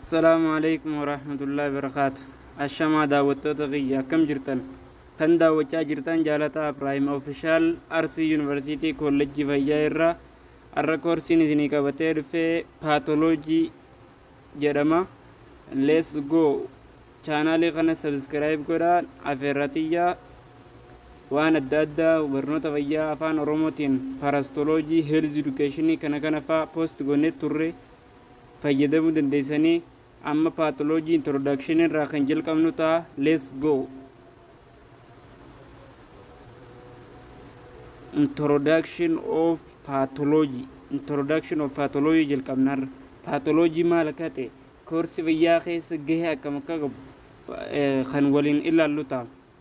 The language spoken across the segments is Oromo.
Assalaamu alaikum warahmatullahi wabarakaatu. Ashamaa daawwattoota kiyya akkam jirtan? Kan daawwachaa jirtan jaalataa Abiraahim Ofishaal Arsii Yuunivarsiitii Koolleejjii Fayyaa irraa har'a koorsiin isinii qabatee dhufee paatoloojii jedhama. Let's go! Chaanaalii kana sabiskiraayib godhaa afeerraa tiyyaa waan adda addaa barnoota fayyaa afaan oromootiin parastoloojii heelz edukeeshinii kana kana faa poost goonee turre fayyadamuu dandeessanii amma pathology introduction irraa kan jalqabnu ta'a let's go introduction of pathology introduction of pathology jalqabnarra pathology maal akka ta'e koorsi fayyaa keessa gahee akkam akka qabu kan waliin ilaallu ta'a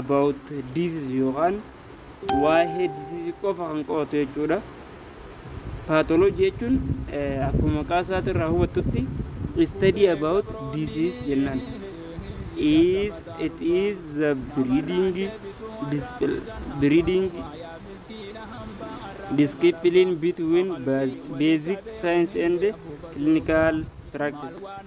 about disease yookaan waa'ee disease qofa kan qo'atu jechuudha. Pathology jechuun eh, akkuma maqaa isaati irraa hubattutti study about disease jennaan. Is it is the breeding discipl- breeding discipline between bas- basic science and clinical practice.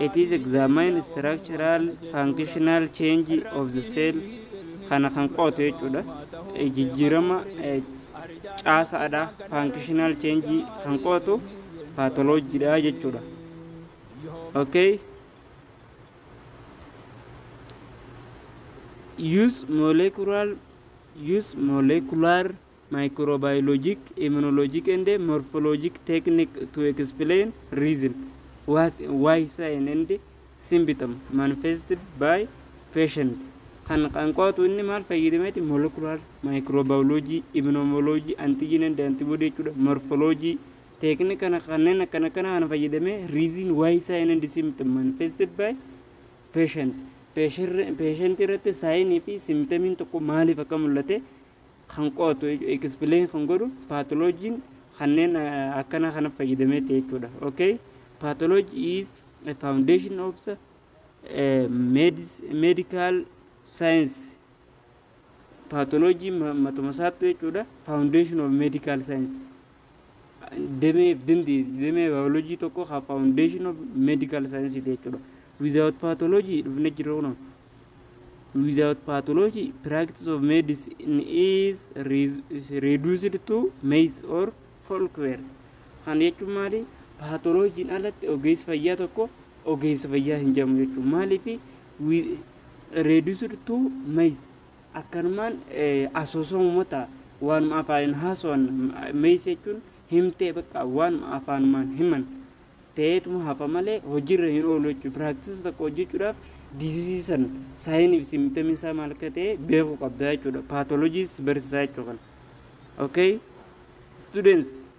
It is examine structural functional change of the cell kana kan qo'atu jechuudha. Eh, Jijjiirama eh, caasaadha functional change kan qo'atu paatoloojiidha jechuudha. Okay. Use molecular use molecular Microbiologic, Immunologic and Morphologic Technique to Explain Reason what, Why Sign and Symptom Manifested by Patient kan kan qo'atu inni maal fayyadameeti molecular microbiology immunology antigen and antibody jechuudha morphology teeknika kana kanneen akkana kana kana fayyadamee reason why sign and symptom manifested by patient patient irratti saayinii fi symptomiin tokko maaliif akka mul'ate kan qo'atu, explain kan godhu pathology kanneen eh, akkana kana fayyadameeti jechuudha. Okay? Pathology is a foundation of the eh, medis- medical science. Pathology ma- matuma isaattu jechuudha. Foundation of medical science. demee dimbi demee biology tokko ka foundation of medical science ti jechuudha without pathology dhufne jirra kunoo without pathology practice of medicine is re- is reduced to maze or folklore kan jechuun maali paatoloojiin alatti ogeessi fayyaa tokko ogeessa fayyaa hin jedhamu jechuudha maaliif reduced to maze Akkanumaan asoosamuma ta'a. Waanuma afaaniin haasawan meeysa jechuun himtee bakka waanuma afaanumaan himan ta'eetuma hafa malee hojiirra hin oolu jechuudha. Piraaktisa tokko hojjechuudhaaf diizizii san saayiniif simtamii isaa maal akka ta'e beekuu qabda jechuudha. Paatolojiis barsiisaa jechuudha. Okay? Students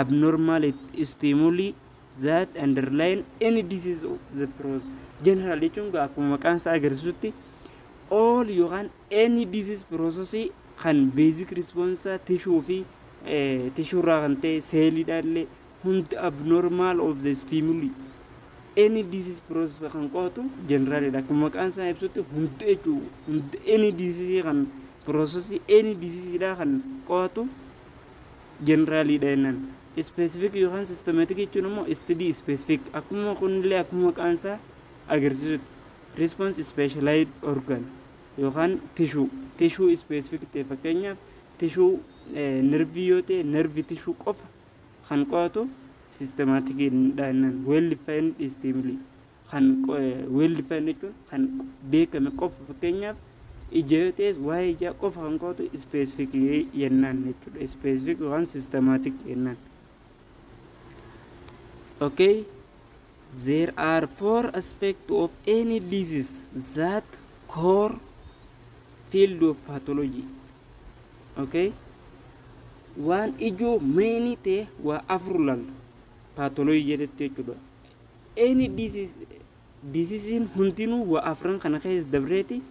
abnormal stimuli that underline any disease of the process general jechuun egaa akkuma maqaan isaa agarsiisutti all yookaan any disease process kan basic response tissue fi tissue irraa kan ta'e seeliidha illee hundi abnormal of the stimuli any disease process kan qo'atu generalidha akkuma maqaan isaa ibsutti hundi jechuu hundi any disease kan process any disease dha kan qo'atu General dha jennaan. Specific yookaan systematic jechuun immoo STD specific. Akkuma kunillee akkuma maqaan isaa agarsiisutti. Response specialized organ yookaan tissue. Tissue specific ta'e fakkeenyaaf tissue nervii yoo ta'e nervii tissue qofa kan qo'atu systematic dha jennaan. Well defined stimuli. kan weelli fayin jechuun kan beekame qofa fakkeenyaaf ija yoo ta'es waa'ee ijaa qofa kan qo'atu ispeesifik yennaan jechuudha ispeesifik yookaan sistemaatik yennaan okay there are four aspects of any disease that core field of pathology okay waan ijoo meeyinii ta'e waa afur laalla paatolojii jedhetti jechuudha Any disease'n hundinuu waa afran kana keessa dabreeti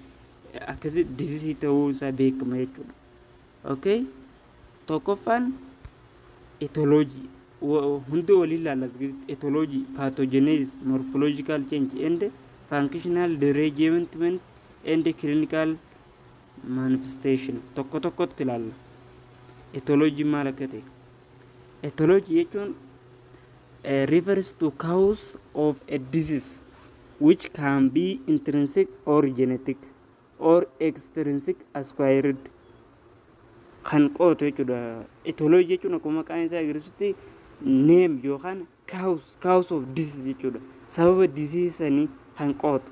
akkasi diseasee ta'uu isaa beekama jechuudha. Okay? Tokkoffaan etology hunda waliin ilaalla etology pathogenesis morphological change and functional derangement and clinical manifestation tokko tokkotti ilaalla. Etology maal akka ta'e. Ethology jechuun eh, refers to cause of a disease which can be intrinsic or genetic or extrinsic acquired kan qootu jechuudha. Ethology jechuun akkuma maqaan isaa agarsiisutti neem yookaan kaawus kaawus of disis jechuudha. Sababa disii sanii kan qootu.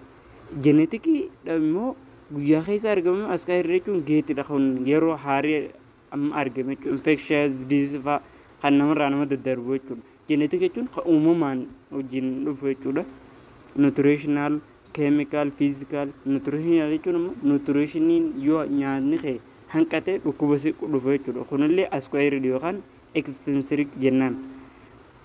Jenetikii immoo guyyaa keessa argamu asxaa irra jechuun geetidha kun yeroo haarii amma argame jechuudha. Infectious disease fa'aa kan namarraa nama daddarbu jechuudha. Genetic jechuun kan uumamaan wajjin dhufu jechuudha. Nutritional, chemical, physical, nutritional jechuun immoo nutritioniin yoo nyaanni kee hanqatee dhukkuba si dhufu jechuudha. Kunillee asquared yookaan extrinsic jennaan.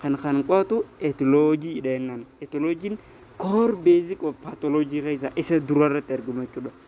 Kan kan qo'atu etology dha jennaan. Etologiin core basic of pathology keessaa isa durarratti argamu jechuudha.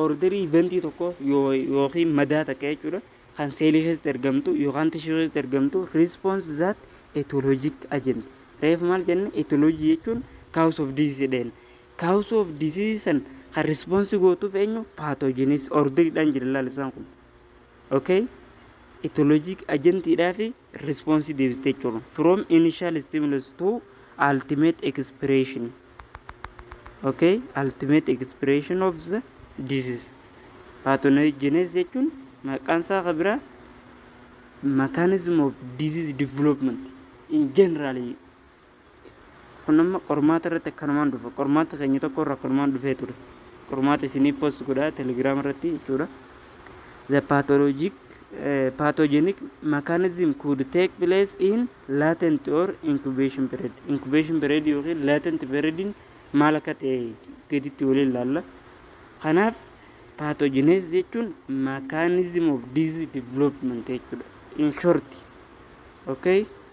Orderii iventii tokko yookiin madaa takka jechuudha kan seelii keessatti ergamtu yookaan tishuu keessatti ergamtu response that etiologic agent reef maal jenne etiology jechuun cause of disease dheen cause of disease san kan response gootuuf eenyu pathogenes orderidhaan jira laalisaan kun okay etiologic agentiidhaa fi Response deebis jechuun from initial stimulus to ultimate expiration. Okay, ultimate expiration of the disease. Pathogenesis jechuun maqaan isaa kan biraa mechanism of disease development in generally kun amma qormaata irratti akkanumaan dhufa qormaata keenya tokko irra akkanumaan dhufee ture qormaata isiniif post godha telegiraam irratti jechuudha the pathologic uh, pathogenic mechanism could take place in latent or incubation period incubation period yookiin latent period maal akka ta'e gaditti waliin ilaalla kanaaf pathogenes jechuun mechanism of disease development jechuudha in short okay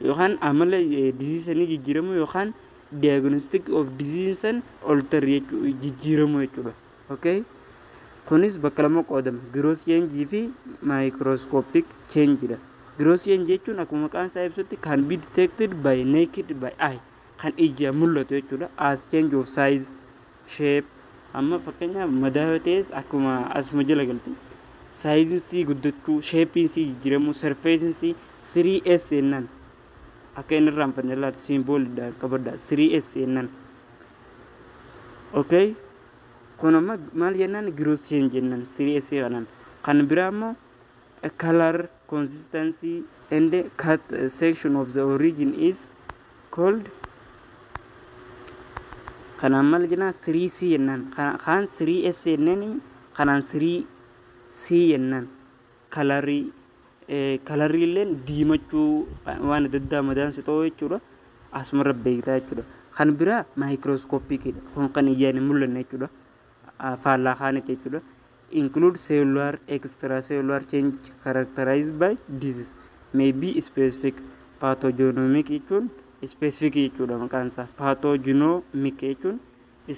yookaan amala disease sanii jijjiiramu yookaan diagnostic of disease san alter jechuu jijjiiramu jechuudha. Okay? Kunis bakka lama qoodama. Gross change fi microscopic change dha. Gross change jechuun akkuma maqaan isaa ibsutti can be detected by naked by eye kan ijaan mul'atu jechuudha. As change of size shape amma fakkeenyaaf madaa yoo ta'es akkuma asuma jala galtu saayiziin sii guddachuu sheepiin sii jijjiiramuu sarfeesiin sii 3S jennaan akka inni irraan fanne laata siimboolidha qabadha 3S jennaan okay kun amma maal jennaan girooseen jennaan 3S kanaan kan biraa immoo kalar consistency and cut uh, section of the origin is called kanaan maal jennaan 3C jennaan Kana- kaan 3S jenneen kanaan 3C jennaan kalarii eh, kalarii illeen diimachuu waan adda addaa madaan si ta'uu jechuudha asumarra beektaa jechuudha kan biraa maayikirooskooppikidha kun kan ijaan hin mul'anne jechuudha Ah, faallaa kaanitti jechuudha include cellular, extracellular change characterized by disease may be specific pathogenomic jechuun specific jechuudha maqaan isaa pathogenomic jechuun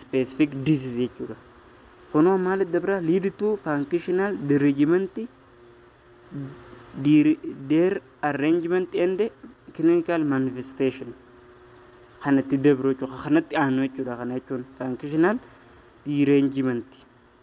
specific disease jechuudha kunoo maal adda biraa lead to functional derangement dir- their arrangement and clinical manifestation kanatti dabru jechuudha kanatti aanu jechuudha kana jechuun functional derangement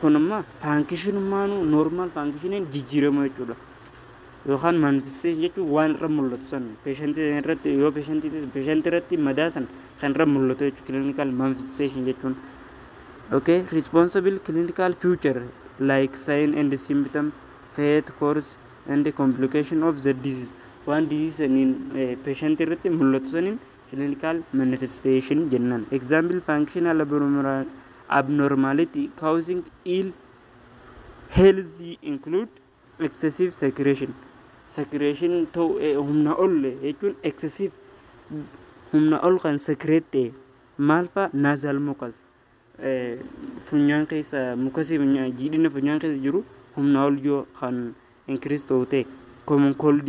kun amma faankishinummaanuu noormaal faankishiniin jijjiirama jechuudha. Yookaan manifesteeshin jechuun waan irra mul'atu san peeshantii irratti yoo peeshantii peeshantii irratti madaa san kan irra mul'atu jechuudha kiliinikaal manifesteeshin jechuun. Okay, responsible clinical future like sign and symptom, fate, course and complication of the disease. Waan disease saniin peeshantii irratti mul'atu saniin clinical manifestation jennan example functional abnormality causing ill health include excessive secretion secretion ta'u eh, humna ol jechuun excessive humna ol kan secrete ta'e maal fa'a nasal mucus eh, funyaan keessa mukasii funyaan jiidhina funyaan keessa jiru humna ol yoo kan increase ta'u ta'e common cold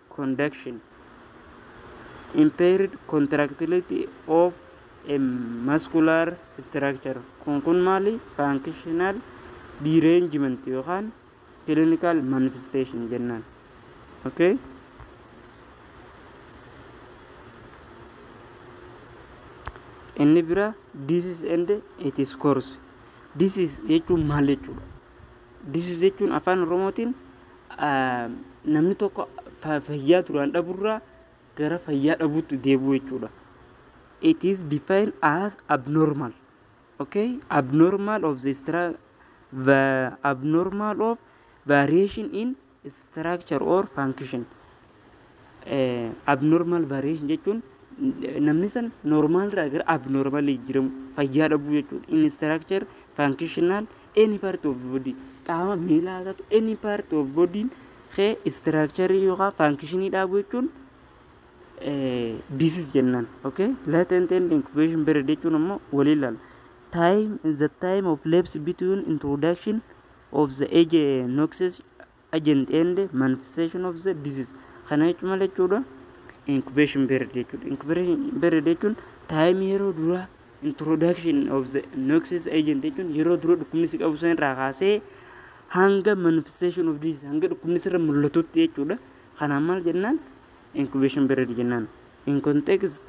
conduction, impaired contractility of a muscular structure kun kun maali functional derangement yookaan clinical manifestation jennaan okay inni bira disease and its course disease jechuun maal jechuudha This is jechuun afaan Oromootiin namni tokko fayyaa duraan dhaburraa gara fayyaa dhabuutti deebi'u jechuudha. It is defined as abnormal. Okay? Abnormal of the, the abnormal of variation in structure or function abnormal variation jechuun namni san normal irraa gara abnormal jijjiiramu fayyaa dhabuu jechuudha. In structure functional any part of body qaama miilaa haa ta'u any part of body kee structure yookaan function dhabuu jechuun disease jennaan. Okay? Latent and incubation period jechuun ammoo waliin laala. Time the time of lapse between introduction of the age noxes agent and manifestation of the disease kana jechuun maal jechuudha incubation period jechuudha incubation period jechuun time yeroo dura introduction of the noxes agent jechuun yeroo dura dhukkubni si qabu san irraa kaasee hanga manifestation of disease hanga dhukkubni sirra mul'atutti jechuudha kanaan maal jennaan incubation period jennaan in context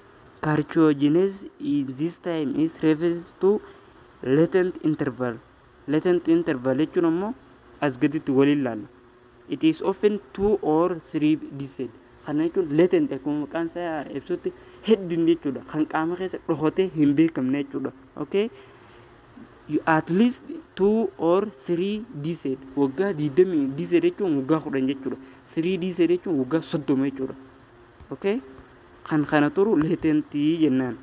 carcinogenesis in this time is referred to latent interval Latent interval jechuun ammoo as gaditti waliin laalla. It is often two or three decade. Kana jechuun latent akkuma maqaan isaa ibsutti heddin jechuudha. Kan qaama keessa dhokatee hin beekamne jechuudha. Okay? You at least two or three decade. Waggaa 20 decade jechuun waggaa 10 jechuudha. Three decade jechuun waggaa 30 jechuudha. Okay? Kan kana turu latent jennaan.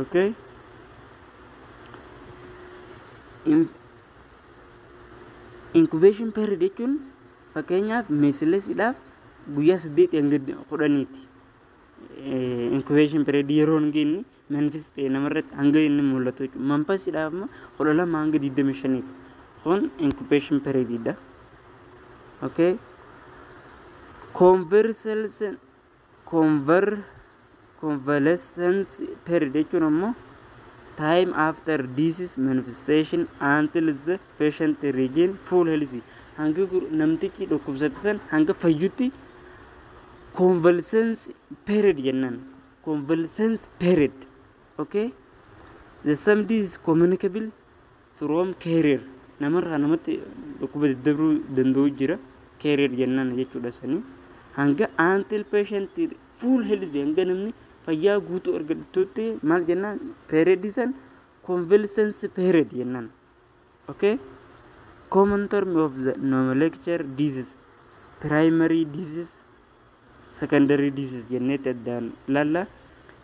okay incubation period jechuun fakkeenyaaf meesillesidhaaf guyyaa saddeetii hanga kudhaniiti incubation period yeroo hin geenye manfis ta'e namarratti hanga inni mul'atu jechuudha manfasidhaaf immoo kudha lama hanga digdamii shaniiti kun incubation period dha okay conversations Conver convalescence period jechuun ammoo time after disease manifestation until the patient regain full health hanga gu- namtichi dhukkubsate san hanga fayyutti convalescence period jennan convalescence period okay the same disease communicable From carrier namarraa namatti dhukkuba daddabruu danda'u jira carrier jennaan jechuudha sanii hanga until patient full healthy hanga namni fayyaa guutuu argattutti maal jennaan period san convalescence period jennaan okay common term of the nomenclature disease primary disease secondary disease jenneetti addaan ilaalla.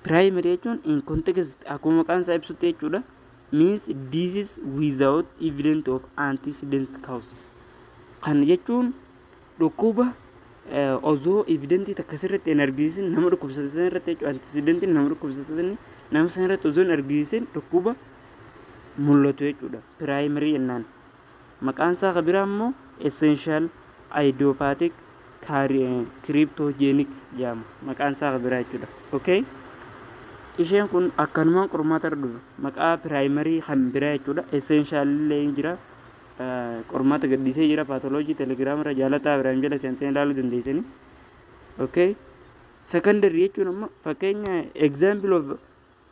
Primary jechuun in context akkuma maqaan isaa ibsutti jechuudha. Means disease without evidence of antecedent cause. Kan jechuun dhukkuba osoo evidentii takka sirriitti hin argisiisin nama dhukkubsate sana irratti jechuudha. Antecedentiin nama dhukkubsate sana nama sana irratti osoo hin argisiisin dhukkuba mul'atu jechuudha. Primary jennaan. Maqaan isaa ka biraa immoo essential idiopathic cryptogenic jedhama. Maqaan isaa ka biraa jechuudha. Okay? Isheen kun akkanumaan qormaata irra dhufe. Maqaa primary kan biraa jechuudha. Essential illee ni jira. Eh, Qormaata gadhiisee jira. Pathology telegram irra jaalataa biraan jala seentanii ilaaluu dandeessanii. Okay? Secondary jechuun amma fakkeenya example of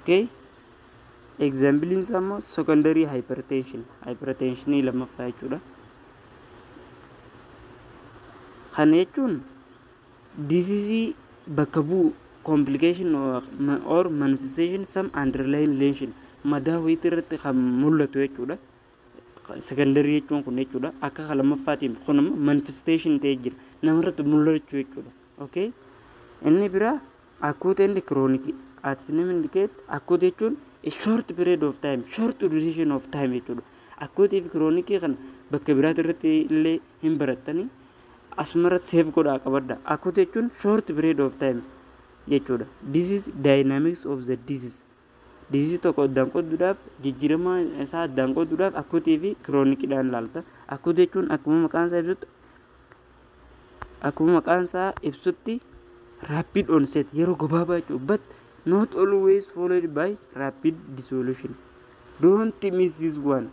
okay egzaambiliin isaa immoo secondary hypertension hypertensionii lammaffaa jechuudha kana jechuun diseasii bakka bu'u complication or ma- or manifestation some underlying lesion madaa wayitii irratti kan mul'atu jechuudha secondary jechuun kun jechuudha akka kan lammaffaatiin kun immoo manifestation ta'ee jira namarratti mul'achuu jechuudha Okay. Inni bira acute and chronic at name indicate acute jechuun a short period of time short duration of time jechuudha. Acute fi chronic kan bakka biraatti irratti illee hin barattani asumara save godhaa qabadda. Acute jechuun short period of time jechuudha. This is dynamics of the disease Diziizii tokko addaan qooduudhaaf jijjiirama isaa addaan qooduudhaaf akuutii fi kiroonikidhaan ilaalta. Akuutii jechuun akkuma maqaan isaa ibsutti akkuma maqaan isaa ibsutti rapid onset yeroo gabaabaa jechuudha. But not always followed by rapid dissolution. Don't miss this one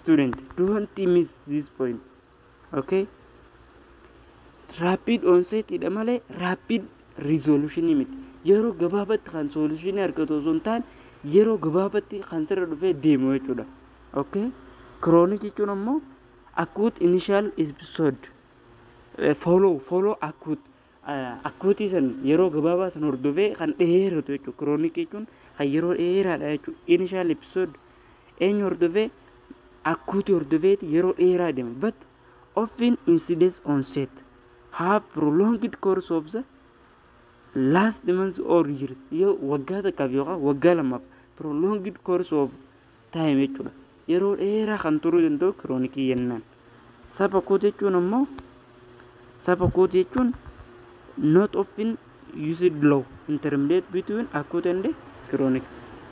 student. Don't miss this point. Okay. Rapid onset dha malee rapid resolution miti. Yeroo gabaabatti kan solution argatu osoo hin taane yeroo gabaabatti kan sirra dhufee deemu jechuudha. Okay. Chronic jechuun ammoo acute initial episode follow follow acute Akkuutii san yeroo gabaabaa san hordofee kan dheeratu jechuudha. Kiroonik jechuun kan yeroo dheeraadha jechuudha. Initial episode eenyu hordofee akkuutii hordofeeti yeroo dheeraa deema. But often incidence onset have prolonged course of the last months or years. Yoo waggaa takkaaf yookaan waggaa lamaaf prolonged course of time jechuudha. Yeroo dheeraa kan turuu danda'u kiroonikii jennaan. Sab akut jechuun ammoo sab akut jechuun not often used low intermediate between akut and chronic.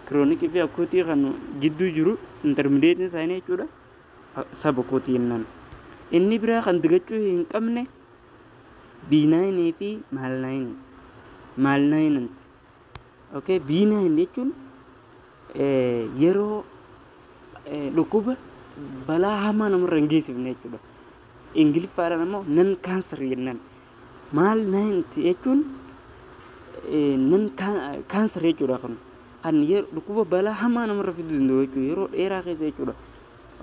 Kiroonikii fi akutii kan jidduu jiru intermediate isaanii jechuudha. Sab akut jennaan. Inni biraa kan dagachuu hin qabne biinaayinii fi maalnaayinii. Maalnaayinanti. Okay, B9 jechuun eh, yeroo eh, dhukkuba balaa hamaa namarra hin geessifne jechuudha. Ingiliffaadhaan ammoo nan kaanser jennaan. Maal naanti jechuun eh, nan kaanser jechuudha kun. Kan yer- dhukkuba balaa hamaa namarra fiduu danda'u jechuudha. Yeroo dheeraa keessa jechuudha.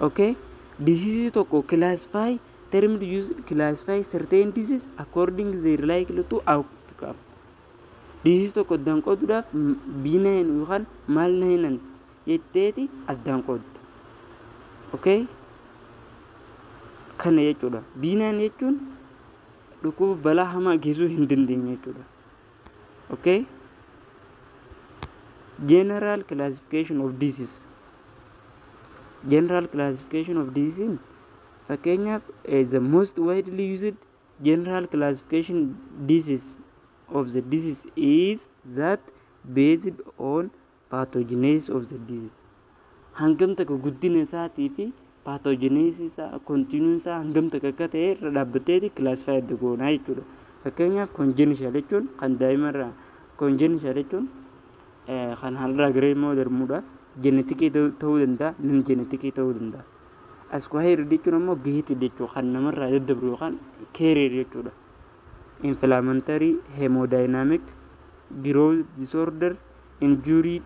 Okay? Disease tokko classify termed use classify certain disease according their likely to outcome. Dhiisisi tokko addaan qooduudhaaf biinahin yookaan maal nahinan jetteeti addaan qoodda. Okay? Kana jechuudha. Biinahin jechuun dhukkuba balaa hamaa geessuu hin dandeenye jechuudha. Okay? General classification of disease. General classification of disease fakkeenyaaf eh, the most widely used General classification disease of the disease is that based on pathogenesis of the disease. Hangam takka guddina isaatii fi pathogenesis isaa continuum isaa hangam takka akka ta'e irra dhaabbateeti classify adda goonaa jechuudha. Fakkeenyaaf congenital jechuun kan daa'imarraa congenital jechuun kan har'aa garee immoo darmuudha. Jenetikii ta'uu danda'a, nam jenetikii ta'uu danda'a. Askuhayir jechuun ammoo gihitii jechuu kan namarraa daddabru yookaan keeriir jechuudha. Inflammatory hemodynamic growth disorder injury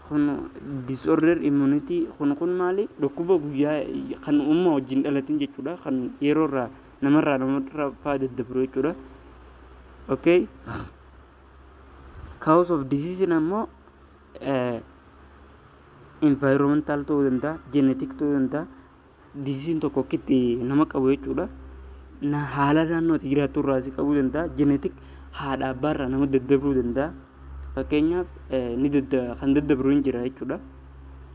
kun disorder immunity kun kun maali dhukkuba guyyaa kan umma wajjin dhalatin jechuudha kan yeroo irraa namarraa namarraa faa daddabru jechuudha. Okay. Cause of disease ammoo eh, Environmental ta'uu danda'a, genetic ta'uu danda'a. Disease tokko akkitti nama qabu jechuudha. Na- Haala naannoo ati jiraattu irraa si qabuu danda'a. Genetic haadha abbaa irraa nama daddabruu danda'a. Fakkeenyaaf eh, ni dadda- kan daddabru hin jira jechuudha.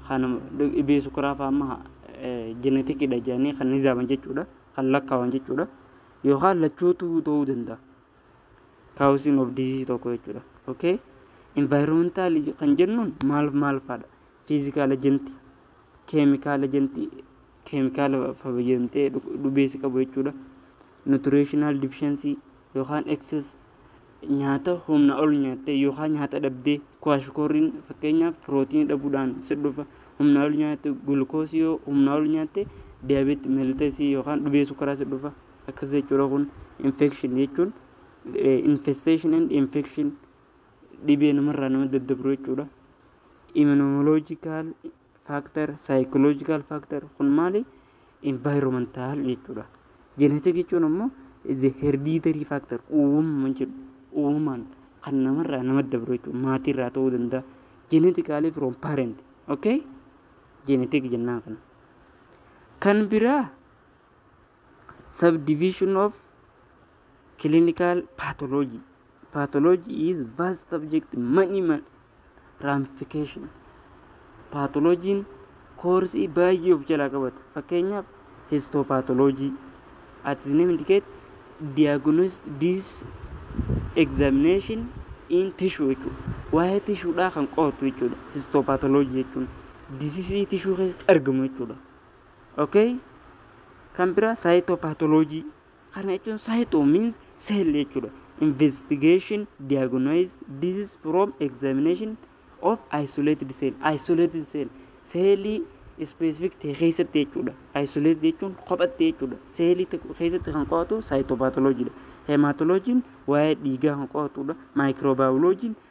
Kan dhibee sukkaraa fa'aa amma genetic dha jedhanii kan nizaaman jechuudha. Kan lakkaawan jechuudha. Yookaan lachuutu ta'uu danda'a. causing of disease tokko jechuudha. Okay? Environmental kan jennuun maal maal faadha? Physical agent, chemical agent, chemical fayyadamtee dhubeessi qabu jechuudha. Nutritional deficiency yookaan excess nyaata humna ol nyaattee yookaan nyaata dhabdee kwaashikoorriin fakkeenyaaf pirootiinii dhabuudhaan si dhufa humna ol nyaatte gulukoosii yoo humna ol nyaatte diyaabeetii melteesii yookaan dhubeessu karaa si dhufa. akkas jechuudha kun infection jechuun infestation and infection dhibee namarraa nama daddabru jechuudha immunological factor psychological factor kun maali environmental jechuudha genetic jechuun ammoo is a hereditary factor uumama jedhu uumamaan kan namarraa nama dabru jechuudha maatiirraa ta'uu danda'a genetically from parent okay genetic jennaan kana kan biraa subdivision of clinical pathology pathology is vast subject many ma- ramification pathologiin koorsii baay'ee of jalaa qabata fakkeenyaaf histopathology at the name indicate diagnosis this examination in tissue jechuudha waa'ee tishuudhaa kan qo'atu jechuudha histopathology jechuun disisii tishuu keessatti argamu jechuudha Okay? Kan biraa saayitoopaatoloojii. Kana jechuun saayitoo means cell jechuudha. Investigation, diagnose, disease from examination of isolated cell. Isolated cell. Seelii specific ta'e keessatti jechuudha. Isolated jechuun kophatti jechuudha. Seelii tokko keessatti kan qo'atu saayitoopaatoloojiidha. Heemaatoloojiin waa'ee dhiigaa kan qo'atudha. Maayikiroobaayoloojiin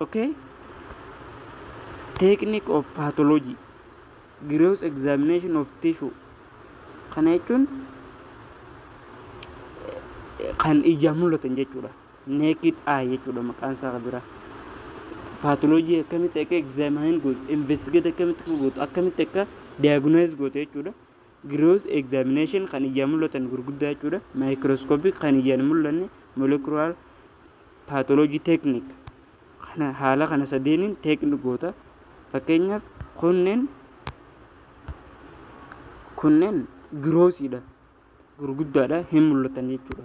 Okay? Technique of pathology, gross examination of tissue. Kana jechuun kan ijaan mul'atan jechuudha. Naked eye jechuudha maqaan isaa kan biraa. Pathology akkamitti akka examine gootu, investigate akkamitti akka gootu, akkamitti akka diagnose gootu jechuudha. Gross examination kan ijaan mul'atan gurguddaa jechuudha. Microscopic kan ijaan hin mul'anne molecular pathology technique kana haala kana sadeeniin technique goota. Fakkeenyaaf kunneen kunneen grossiidha gurguddaadha hin mul'atan jechuudha.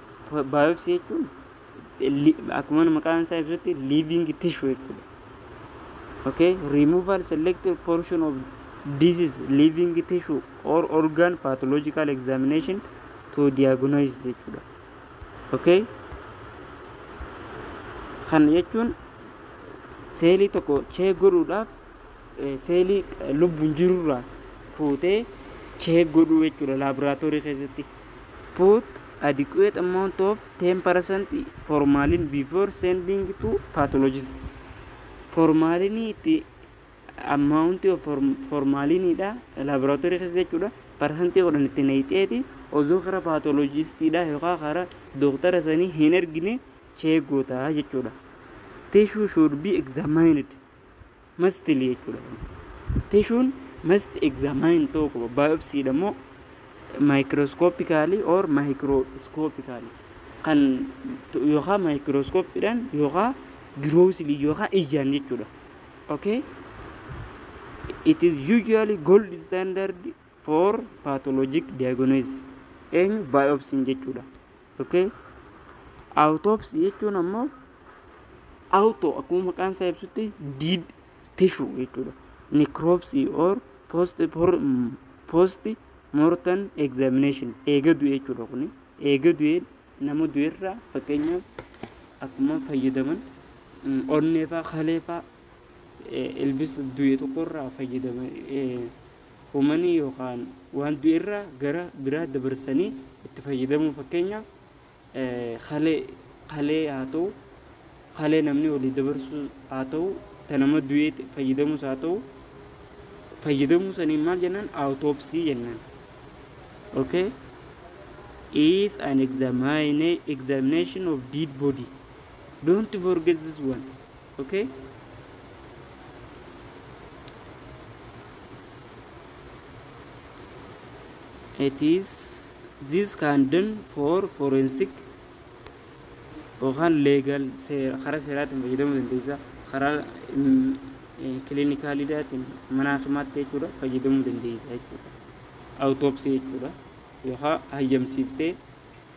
Baayopsii jechuun li- akkuma maqaan isaa ibsutti living tissue jechuudha. Okay, removal selected portion of disease living tissue or organ pathological examination to diagnose jechuudha. Okay, kana jechuun seelii tokko chee godhuudhaaf eh, seelii eh, lubbuun jirurraas fuutee chee godhuu jechuudha laaboraatoorii keessatti. Put adequate amount of 10% formalin before sending to pathologist. Formalinii itti amount of formaliniidha laboratory keessa jechuudha. Parsantii kudhan itti naqxeeti osoo kara pathologistiidha yookaan kara dooktara sanii hin ergine cheek gootaa jechuudha. Tissue should be examined. mastly jechuudha. Tishuun must examine ta'uu qaba. Biopsy dha immoo microscopically or microscopically kan yookaan microscope dhaan yookaan grossly yookaan ijaan jechuudha. Okay? It is usually gold standard for pathologic diagnosis eenyu biopsy jechuudha okay autopsy jechuun ammoo auto akkuma maqaan isaa ibsutti dead tissue jechuudha necropsy or post post mortem examination eega du'e jechuudha kun eega du'e nama du'erraa fakkeenyaaf akkuma fayyadaman onneefaa kaleefaa ilbisa du'e tokkorraa fayyadaman Umanii yookaan waan du'e irraa gara biraa dabarsanii itti fayyadamuu fakkeenyaaf kalee kalee haa ta'u kalee namni olii dabarsuu haa ta'u ta nama du'ee fayyadamus haa ta'u fayyadamuu saniin maal jennaan autopsy jennaan okay is an examine, examination of dead body don't forget this one okay it is this can done for forensic yookaan leegal karaa seeraatiin fayyadamuu dandeessa karaa kilinikaalidaatiin mana hakimaatti jechuudha fayyadamuu dandeessa jechuudha awutoopsii jechuudha yookaan hayyamsiiftee